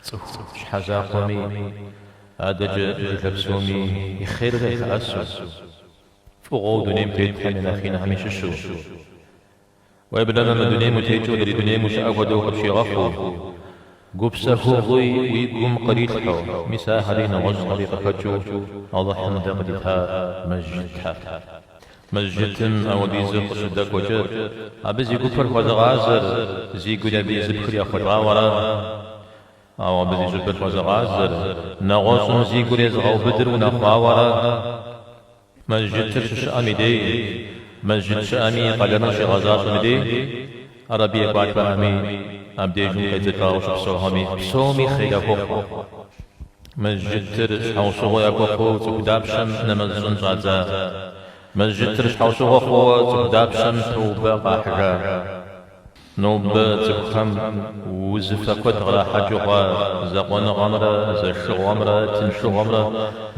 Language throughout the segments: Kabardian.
Цӏыху щхьэ закъуэми, адэкӏэ жылэ псоми и хъер къалъэӏэсу, фӏыгъуэу дунейм тетхэм я нэхъ инхэми щыщу, Уеблэмэ мы дунейм утекӏыу адрей дунейм ущыӏэ хуэдэу къыпщигъэхъуу, гупсэхугъуи уи гум кърилъхьэу, мис ахэри нэгъуэщӏхэри къыхэкӏыу Алыхьым дэ къыдита мэжджытхэр. Мэжджытым апхуэдизу къыщыдэкӏуэкӏэ, абы зи гупыр хуэзыгъазэр, зи гур абы езыпхыр ехъулӏауэра? Ауэ абы зи щӏыбыр хуэзыгъазэр, нэгъуэщӏым зи гур езыгъэубыдыр унэхъуауэра? Мэжджытыр щыщыӏэм и дей, мэжджыт щыӏэми и къалэныр щигъэзащӏэм и дей, ара абы екӏуалӏэхэми, абдежым къедзэкӏауэ щыпсэухэми, псоми хъер яхуэхъу. Мэжджытыр щхьэусыгъуэ яхуэхъуу цӏыху дапщэм нэмэз щӏын щӏадза? Мэжджытыр щхьэусыгъуэ хъууэ цӏыху дапщэм тоубэ къахьыжа? Нобэ цӏыхухэм узыфэ куэд кърахьэкӏыу хъуа закъуэныгъэмрэ зэшыгъуэмрэ тыншыгъуэмрэ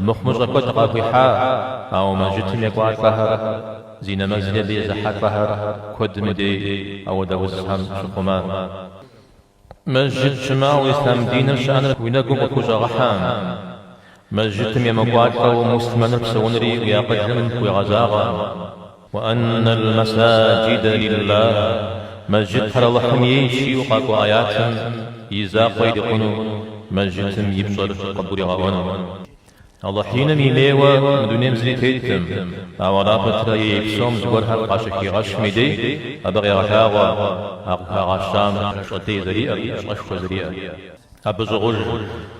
мыхъумыщӏэ куэд къахуихьа, ауэ мэжджытым екӏуалӏэхэр, зи нэмэзри абы езыхьэлӏэхэр куэдым и дей апхуэдэ узхэм щыхъума. Мэжджыт щымыӏэу ислъам диныр щыӏэныр уи нэгум къыхущӏэгъэхьа? Мэжджытым емыкӏуалӏэу муслъмэныр псэунри уи акъылым хуигъэзагъэкъым, Уэ анна аль-масаджида лиллах, Мэжджытхэр Алыхьым ейщ жиӏэу къакӏуэ аятым и закъуэ ирикъуну, Мэжджытым и пщӏэр къыбгуригъэӏуэну. Алыхь иным имейуэ мы дунейм зыри теттэм, ауэ ара пэтрэ ей псом зыгуэрхэр къащыхигъэщым и дей абы къегъэлъагъуэ а къыхагъэщам пщӏэ лей зэриӏэр, пщӏэшхуэ зэриӏэр. Абы щӏыгъуж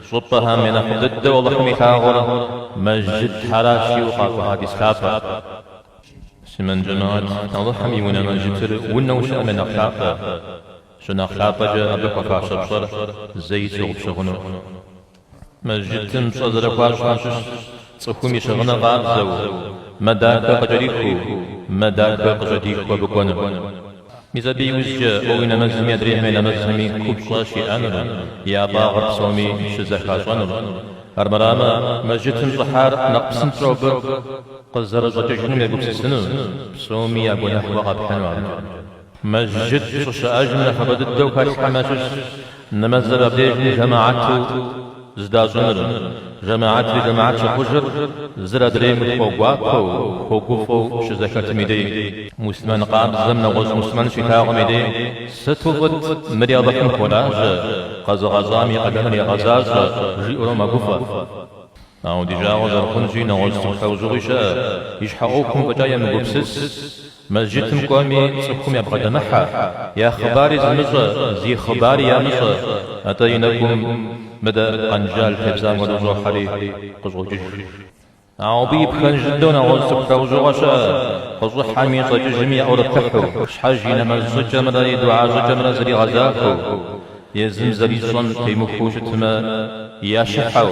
щӏыпӏэхэм я нэхъыфӏ дыдэу Алыхьым илъагъур мэжджытхэращ жиӏэу къакӏуэ хьэдис лъапӏэм. Муслъымэн джэмаат, Алыхьым и унэ мэжджытыр унэу щыӏэм я нэхъ лъапӏэ. Щынэхъ лъапӏэкӏэ абы хуэфащэ пщӏэр зэи тщыгъупщэ хъуну. Мэжджытым пщӏэ зэрыхуащӏхэм щыщ цӏыхум и щыгъыныр къабзэу, мэ дахэ къыкӏэрихыу, мэ дахэ къыщӏыдиху абы кӏуэну. Мис абы и ужькӏэ уэ уи нэмэзми адрейхэм я нэмэзми купщӏэ щиӏэнур, я фӏагъыр псоми щызэхащӏэнур. Армырамэ, мэжджытым щӏыхьар нэхъ псынщӏэу абы къызэрыщӏэкӏыжыным егупсысыну, псоми я гуэныхь уэ къэпхьыну абыкӏэ. Мэжджыт щӏыщыӏэжым нэхъыбэ дыдэу хэлъхэм ящыщщ. Нэмэзыр абдежым жэмэхьэту зэдащӏыныр, жэмэхьэтри жэмэхьэт щыхъужыр зыр адрейм хуэгуапэу, хуэгуфӏэу щызэхэтым и дей, муслъымэн къабзэм нэгъуэщӏ муслъымэн щилъагъум и дей, сыту фӏыт, мыри Алыхьым хуолажьэ, къэзыгъэщӏам и къалэныр егъэзащӏэ, жиӏэурэ мэгуфӏэ. Ауэ ди жагъуэ зэрыхъунщи, нэгъуэщӏ цӏыху лӏэужьыгъуи щыӏэ, и щхьэ ӏуэхум фӏэкӏа емыгупсыс, мэжджытым кӏуэми, цӏыхум ябгъэдэмыхьэ, я хъыбари зымыщӏэ, зи хъыбари ямыщӏэ, атӏэ и нэкӏум мыдэ къэнжал тебзам хуэдэу щӏохьэри, къыщӏокӏыж. Ауэ абы и пхэнж дыдэу нэгъуэщӏ цӏыху лӏэужьыгъуэ щыӏэ, къыщӏыхьэми, щӏэкӏыжми яӏурыплъыхьу, щхьэж и нэмэз щӏыкӏэмрэ и духьэ щӏыкӏэмрэ зригъэзахуэу. Езым зэрищӏэм темыхуэу щытмэ, ящыхьэу,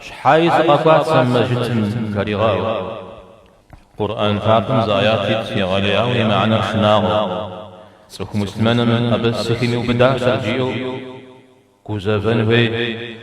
щхьэи сыкъэкӏуа сэ мы мэжджытым жаригъэӏэу. Къурӏэн лъапӏэм зы аят ит егъэлеяуэ и мыхьэнэр шынагъуэу. Цӏыху муслъымэным абы сыхимыубыдащэрэ жиӏэу гузэвэн хуейт.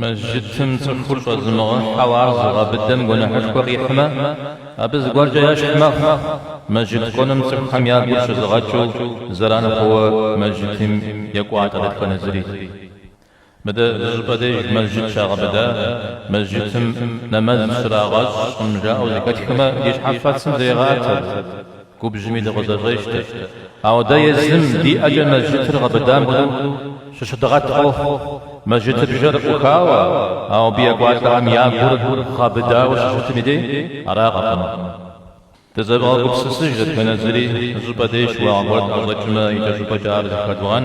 Мэжджытым цӏыхур щӏэзымыгъэхьэу ар зыгъэбыдэм гуэныхьышхуэ къихьмэ, абы зыгуэркӏэ ящхь мэхъу. Мэжджыт кӏуэным цӏыхухэм я гур щызыгъэкӏыу зэран хъууэ мэжджытым екӏуалӏэ дэтхэнэ зыри. Мыдэ зыщӏыпӏэ деж мэжджыт щагъэбыда, мэжджытым нэмэз щрагъэщӏкъым жаӏэу зэхэтхмэ, ди щхьэфэцым зрегъэӏэт. Губжьми дыкъызэщӏещтэ. Ауэ дэ езым, ди ӏэкӏэ мэжджытыр гъэбыдам хуэдэу щыщыдгъэткӏэ, мэжджытыбжэр ӏухауэ, ауэ абы екӏуалӏэхэм я гур гъэбыдауэ щыщытым и дей аракъым. Дызэвгъэгупсысыж дэтхэнэ зыри, щӏыпӏэ дей щыуагъэ гуэр тӏэщӏэкӏмэ, икӏэщӏыпӏэкӏэ ар зыхэдывгъэн.